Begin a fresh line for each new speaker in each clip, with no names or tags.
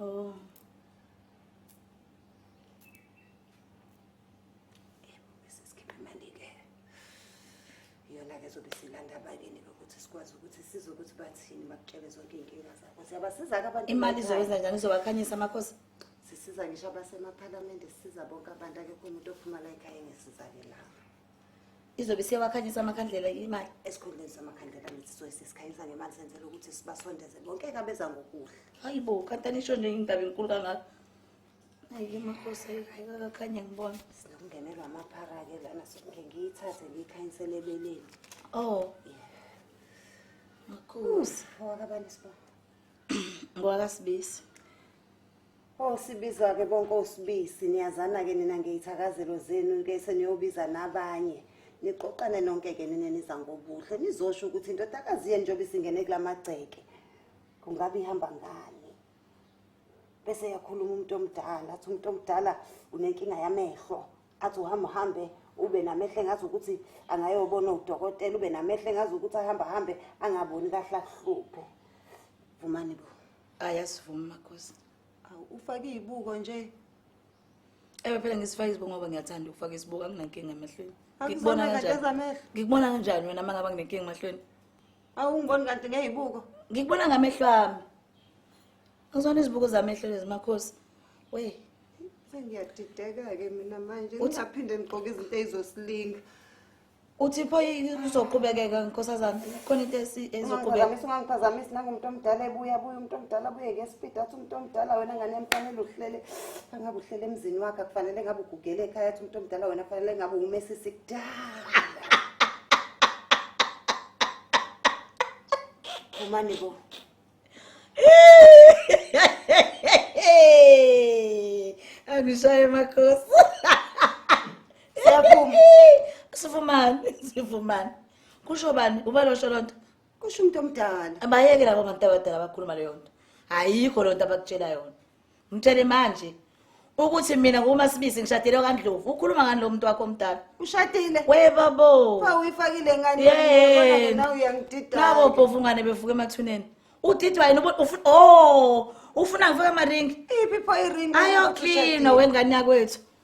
Oh. iyona-ke zobe silanda abakini ukuthi sikwazi ukuthi sizwe ukuthi bathini bakutshele zonke iy'nkinga zakho siyabasiza-ke abantu imali izowenza njani
izowakhanyisa amakhosi sisiza ngisho
abasemaphalamende sisiza bonke abantu akekho umuntu ophuma la ekhaya engesizakelayo izobe
siyawakhanyisa amakhandlela imali esikhundleni samakhandlela
mithi sizobe sesikhanyisa ngemali senzela ukuthi sibasondeze bonke kabeza ngokuhle hayi bo kanti anisho
nje indaba enkulu kangaka ayi makhosi ayikakakhanye ngibona sinokungenelwa
amaphara-ke lana soke ngiyithathe ngiyikhanyisele ebeleni oh
makhosi owakabani
sibona ngowakasibisi
Ongisibiza-ke
bonke osibisi niyazana-ke nina ngeyithakazelo zenu ke seniyobiza nabanye niqoqane nonke-ke nina niza ngobuhle nizosho ukuthi indodakazi yenu njengoba isingene kula magceke kungabe ihamba ngani bese yakhuluma umuntu omdala athi umuntu omdala unenkinga yamehlo athi uhamba uhambe ube namehlo engazi ukuthi angayobona udokotela ube namehlo engazi ukuthi ahamba hambe angaboni kahle akuhluphe vumani bo hayi asivumi
makhosi awu ufake
iy'buko nje
ewe phela ngisifake izibuko ngoba ngiyathanda ukufaka isibuko anginankinga emehlweni ngikubona Akuzona
kanjani ngezamehlo. ngikubona kanjani wena
uma ngaba nginenkinga emehlweni awungiboni
kanti ngey'buko ngikubona ngamehlo
ami ngizona izibuko zamehlo lezi makhosi we
sengiyadideka-ke mina manje Uthi- ngingaphinde ngigqoke izinto ey'zosilinga uthi
pho kuzoqhubekeka nkosazana khona into ezoqhubekaphazamisa ungangiphazamisi nangumuntu
omdala ebuya buye umuntu omdala buye ngespidi athi umuntu omdala wena ngane yamfanele uhlele angabe uhlele emzini wakhe akufanele ngabe ugugele ekhaya athi umuntu omdala wena kufanele ngabe umesisi kudala umane bo
angishaye makhosi siyaphuma sivumani sivumani kusho bani ubalosho loo nto kusho umuntu omdala
abayeke labo bantu
abadala bakhuluma leyo nto ayikho loo nto abakutshela yona Mtshele manje ukuthi mina nguma sibisi ngishadile kaNdlovu. Ukhuluma ngani lo muntu wakho omdala? ushadile We
babo. pha
uyifakile ngani
Yey. Yabona ke nawe uyangidida Nabo bhovungane
bevuka emathuneni. Udidwa yini ubu- ufu oh ufuna ngifike amaringi. iphi pho iring
Ayo clean
wengane yakwethu.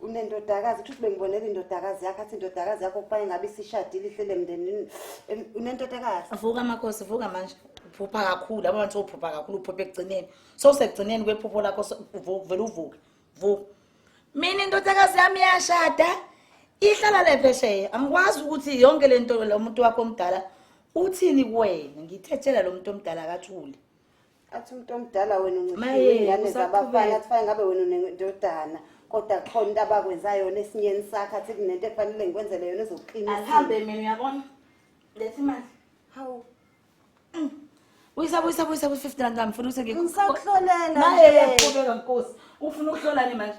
unendodakazi kusho ukuthi bengibonela indodakazi yakho athi indodakazi yakho kuba ingabe isishadile ihlele emndenini Em, unendodakazi vuka makhosi
vuka manje uphupha kakhulu yabo manje uphupha kakhulu uphupha ekugcineni sowusekugcineni kwephupho lakho so- vu- vele uvuke vuka mina indodakazi yami iyashada ihlala le phesheya angikwazi ukuthi yonke le nto lo muntu wakho omdala uthini kuwena ngithe tshela lo muntu omdala akathule athi umuntu
omdala wena uncishile ingane zabafana athi fane ngabe wena unendodana kodwa khona into abakwenza yona esinyeni sakhe athi kunento efanele ngikwenzele yona ezokuqinisa ahambe mina uyabona
lethi imali hawu mm. Uyisa buyisa buyisa ku 50 rand ngifuna ukuthi ngikuhlolela. Naye
yaphubeka
nkosi. Ufuna ukuhlolani manje?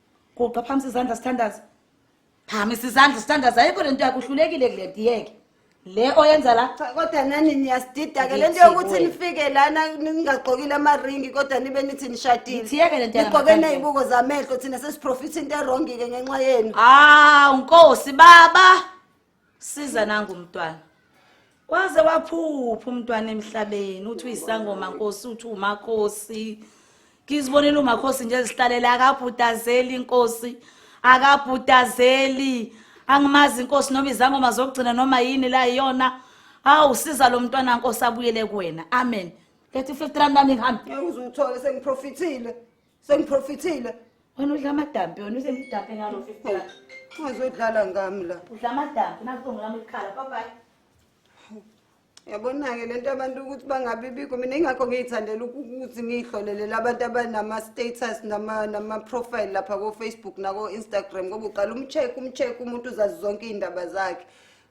guqa phamisa izandla standards phamisa izandla standards ayikho lento yakho uhlulekile kule diyeke le oyenza la Cha kodwa nani
niyasidida ke lento Ngithi yokuthi kuwe. nifike lana ningagqokile amaringi kodwa nibe nithi nishadile. Ngithiyeke lento yangaphandle. Nigqoke
nezibuko zamehlo
thina sesiprofitha into erongi ke ngenxa yenu. hawu
nkosi baba
siza
nangu umntwana waze waphupha umntwana emhlabeni uthi uyisangoma nkosi uthi umakhosi ngizibonela umakhosi nje ezihlalela akabhudazeli inkosi akabhudazeli angimazi inkosi noma izangoma zokugcina noma yini la iyona hawu siza lo mntwana nkosi abuyele kuwena amen lethi 50 rand nami ngihambe ngizuthola sengiprofithile
sengiprofithile
wena udla amadampi wena usemdampe ngalo 50 ungazodlala
ngami la udla amadampi nakutongo
lami likhala bye bye yabona-ke
le nto abantu ukuthi bangabi bikho mina ingakho ngiyithandela ukuthi ngiyihlolelele abantu abanama-status nama-profile lapha ko-facebook nako-instagram ngoba uqala umcheck umcheck umuntu uzazi zonke iy'ndaba zakhe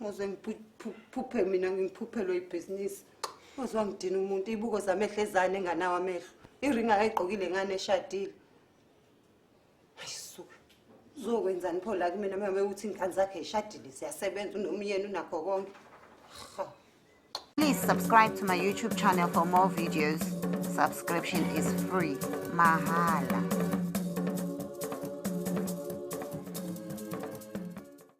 Ngoze ngiphuphe mina ngiphuphelwe ibhizinisi. Ngoze wangidina umuntu ibuko zamehlo ezane enganawo amehlo. Iringa ayigqokile ngane eshadile. Ayisuka. Uzokwenzani pho la kumina mama uthi ingane zakhe ishadile siyasebenza unomyeni unakho konke. Ha.
Please subscribe to my YouTube channel for more videos. Subscription is free. Mahala.